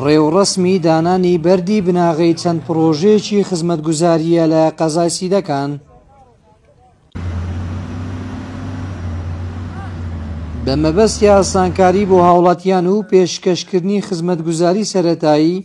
ڕێوڕەسمی دانانی بەردی بناغەی چەند پڕۆژەیەکی خزمەتگوزارییە لە قەزای سیدەکان. بە مەبەستی ئاسانکاری بۆ هاوڵاتیان و پێشکەشکردنی خزمەتگوزاری سەرەتایی،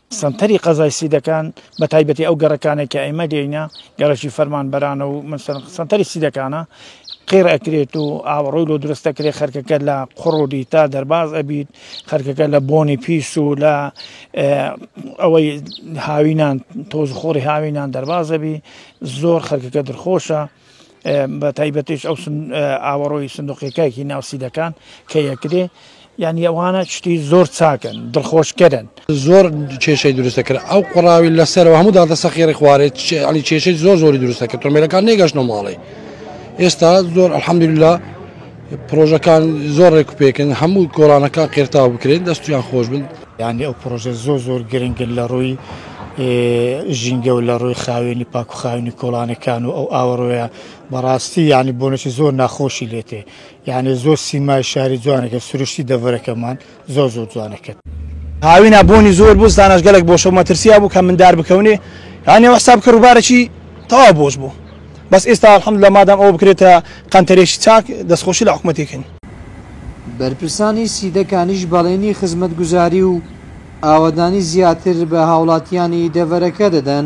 سەنتەری قەزای سیدەکان بە تایبەتی ئەو گەڕەکانەی کە ئێمە لێینە گەڕەکی فەرمانبەرانە و سەنتەری سیدەکانە قێڕ ئەکرێت و ئاوەڕۆی لۆ دروست دەکرێت خەرکەکە لە قڕ و دیتا دەرباز ئەبیت خەرکەکە لە بۆنی پیس و لە ئەوەی هاوینان تۆز خۆری هاوینان دەربازەبی زۆر خەرکەکە درخۆشە بەتایبەتیش ئەو ئاوەڕۆی سندوقیەکایکی ناوسیدەکان کە یەکرێ یعنی ئەوانە شتی زۆر چاکن دڵخۆشکەرن زۆر کێشەی دروستە کرد ئەو قڕاوی لەسەرەوە هەموو دادە سەخێری خوارێت علی کێشەی زۆر زۆری دروستە کە تۆمێلەکان نێگەشتە ماڵێ ئێستا زۆر ئەحمدللا پرۆژەکان زۆر ڕێک و پێکن هەموو گۆڕانەکان قێرتاو بکرێن دەستیان خۆش بن یعنی ئەو پرۆژە زۆر زۆر گرنگن لە ڕووی ژینگە و لە ڕووی خاوێنی پاک و خاوێنی کۆڵانەکان و ئەو ئاوەڕۆیە بەڕاستی یعنی بۆنەی زۆر ناخۆشی لێتێ یعنی زۆر سیمای شاری جوانەکە سروشتی دەڤەرەکەمان زۆر زۆر جوانە کەت. هاوینا بۆنی زۆر بوو زتاناش گەلەک بۆشەو مەترسیا بوو کە مندار بکەونێ یانێ وەحساب کە ڕووبارەکی تەوا بۆش بوو بەس ئێستا الحمدللە مادام ئەوە بکرێتە قەنتەرێکی چاک دەسخۆشی لە حکومەتی کەین. بەرپرسانی سیدەکانیش بەڵێنی خزمەتگوزاری و ئاوەدانی زیاتر بە هاوڵاتیانی دەڤەرەکە دەدەن.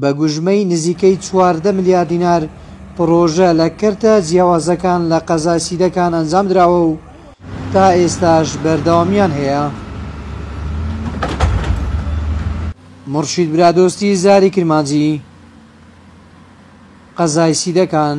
بە گوژمەی نزیکەی چواردە ملیار دینار پڕۆژە لە کەرتە جیاوازەکان لە قەزای سیدەکان ئەنجام دراوە و تا ئێستاش بەردەوامییان هەیە. مورشید برادۆستی زاری کرمانجی، قەزای سیدەکان.